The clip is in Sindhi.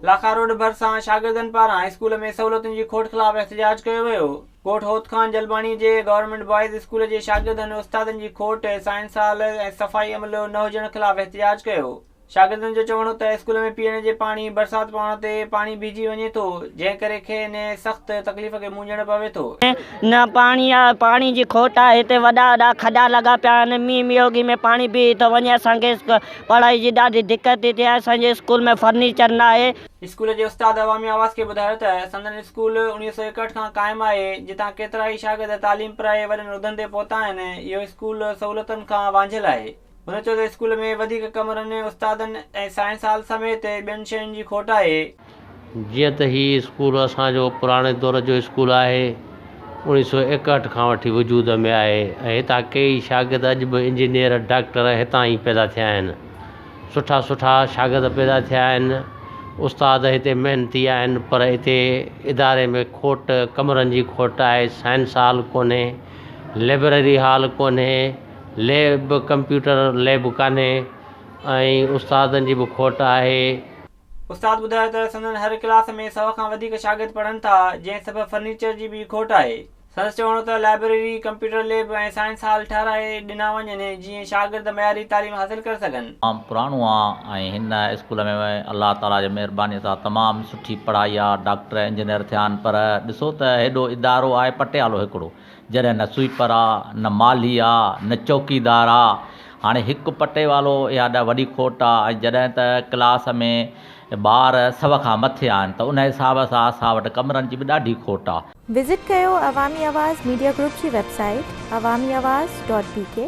لاکا روڊ ڀرسان شاگردن پاران اسڪول ۾ سهولتن جي کوٽ خلاف احتجاج ڪيو ويو. ڳوٺ هوت خان جلباڻي جي گورنمينٽ بوائز اسڪول جي شاگردن استادن جي کوٽ، سائنس هال ۽ صفائي عملو نه هجڻ خلاف احتجاج ڪيو. شاگردن جو چوڻ هو ته اسڪول ۾ پيئڻ جي پاڻي برسات پوڻ تي پاڻي بيهجي وڃي ٿو جنهن ڪري کين سخت تڪليف کي مونجهڻ پوي ٿو. نه پاڻي آ پاڻي جي کوٽ آ هتي وڏا وڏا کڏا لڳا پيا آهن مينهن ميوگي ۾ پاڻي بيهي ٿو وڃي اسان کي پڙهائي جي ڏاڍي دقت ٿي ٿئي اسان جي اسڪول ۾ فرنيچر نه آهي. اسڪول جي استاد عوامي آواز کي ٻڌايو ته سندن اسڪول اوڻيهه سؤ ايڪهٺ کان قائم آهي جتان ڪيترائي شاگرد تعليم پرائي وڏن عهدن تي پهتا آهن اهو اسڪول سهولتن کان وانجهيل آهي. هن چيو ته اسڪول ۾ وڌيڪ ڪمرن، استادن ۽ سائنس هال سميت ٻين شين جي کوٽ آهي. جيئن ته هي اسڪول اسان جو پراڻي دور جو اسڪول آهي، اوڻيهه سؤ ايڪهٺ کان وٺي وجود ۾ آهي ۽ هتان ڪيئي شاگرد اڄ به انجنيئر، ڊاڪٽر هتان ئي پيدا ٿيا آهن. سٺا سٺا شاگرد پيدا ٿيا آهن، استاد هتي محنتي آهن پر هتي اداري ۾ کوٽ، ڪمرن جي کوٽ آهي، سائنس هال ڪونهي، لئبرري هال ڪونهي، ليب ڪمپيوٽر ليب ڪانهي ۽ استادن جي به کوٽ آهي. استاد ٻڌايو ته سندن هر ڪلاس ۾ سؤ کان وڌيڪ شاگرد پڙهن ٿا جنهن سبب فرنيچر جي به کوٽ آهي. سندس چوڻ هو ته library, computer lab ۽ science hall ٺهرائي ڏنا وڃن جيئن شاگرد معياري تعليم حاصل ڪري سگهن. تمام پراڻو آ ۽ هن اسڪول ۾ الله تعالي جي مهرباني سان تمام سٺي پڙهائي آ ڊاڪٽر انجنيئر ٿيا آهن پر ڏسو ته هيڏو ادارو آهي پٽيالو هڪڙو جڏهن نه سوئيپر آ، نه مالهي آ، نه چوڪيدار آ. هاڻي هڪ پٽيوالو اها ڏا وڏي کوٽ آ ۽ جڏهن ته ڪلاس ۾ ٻار سو کان مٿي آهن ته ان حساب سان اسان وٽ ڪمرن جي به ڏاڍي کوٽ آ. وزٽ ڪيو عوامي آواز ميڊيا گروپ جي website Awami Awaz dot بي ڪي.